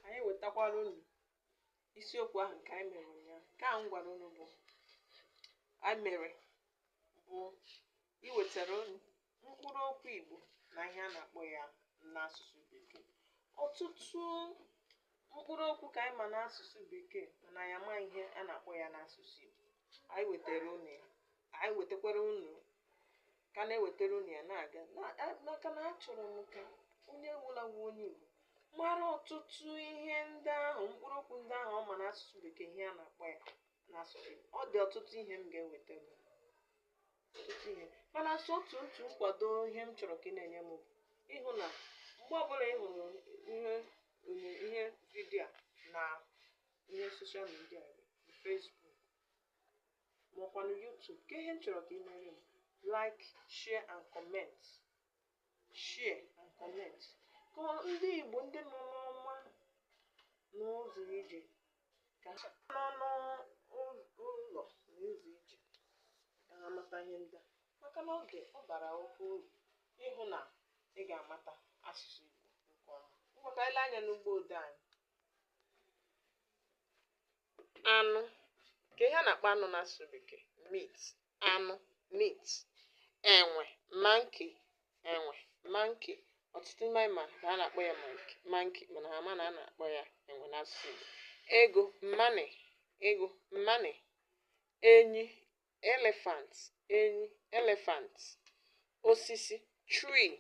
anyị ewetakwara unu isiokwu ahụ nke anyị mere ụnyaahụ nke ahụ m gwara unu bụ anyị mere bụ iwetara unu mkpụrụ okwu igbo na ihe a na-akpọ ya n'asụsụ bekee ọtụtụ mkpụrụ okwu ka anyị ma n'asụsụ bekee mana anyị ama ihe a na-akpọ ya n'asụsụ igbo anyị wetara unu ya anyị wetakwara unu ka a na-ewetara unu ya na-aga maka na achọrọ m ka onye ọbụla bụ onye Igbo mara ọtụtụ ihe ndị ahụ mkpụrụ okwu ndị ahụ ọ ma n'asụsụ bekee ihe a na-akpọ ya n'asụsụ Igbo. ọ dị ọtụtụ ihe m ga-ewetara unu. ọtụtụ ihe mana sọ otu otu nkwado ihe m chọrọ ka ị na-enye m bụ ịhụ na mgbe ọbụla ị hụrụ ihe onye ihe video a na ihe social media Facebook ma ọkwanụ YouTube kee ihe m chọrọ ka ị mere m like share and comment share and comment ka ndị Igbo ndị nọ n'ọma n'ụzọ ije ka ha nọ n'ụlọ na ụzọ ije ka ha mata ihe ndị a maka na oge ọ bara oke uru ịhụ na ị ga-amata asụsụ Igbo nke ọma ngwa ka anyị lee anya n'ugbo ode anyị anụ kee ihe a na-akpọ anụ n'asụsụ bekee meat anụ meat enwe monkey enwe monkey ọtụtụ n'ime anyị ma na a na-akpọ ya monkey mana ha ama na a na-akpọ ya enwe n'asụsụ Igbo ego money ego money enyi elephant enyi elephant osisi tree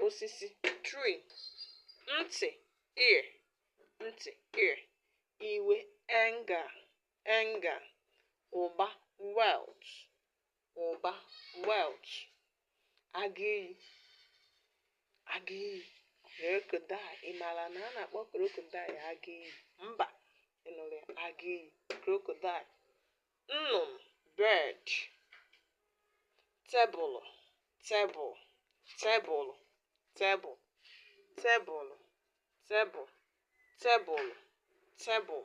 osisi tree ntị ear ntị ear iwe anger anger ụba wealth ụba wealth agụ iyi agụ iyi crocodile ị maara na a na-akpọ crocodile agụ iyi mba ị nụrụ ya agụ iyi crocodile nnụnụ bird tebụlụ table tebụlụ table tebụlụ table tebụlụ table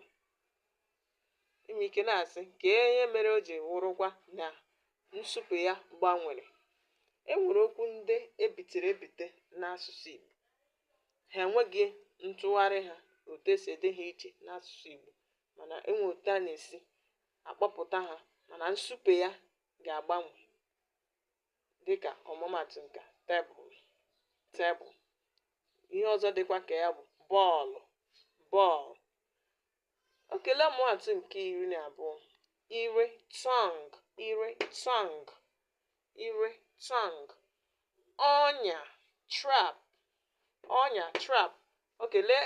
i nwere ike na-asị kee ihe mere o ji wụrụkwa na nsụpụ ya gbanwere e nwere okwu ndị e bitere ebite n'asụsụ Igbo ha enweghị ntụgharị ha otu e si ede ha iche n'asụsụ Igbo mana enwe otu a na-esi akpọpụta ha mana nsupe ya ga-agbanwe dịka ọmụmatụ nke table tebụl ihe ọzọ dịkwa ka ya bụ bọọlụ bọọlụ okay lee ọmụmatụ nke iri na abụọ ire tongue ire tongue ire tongue ọnya trap ọnya trap okay lee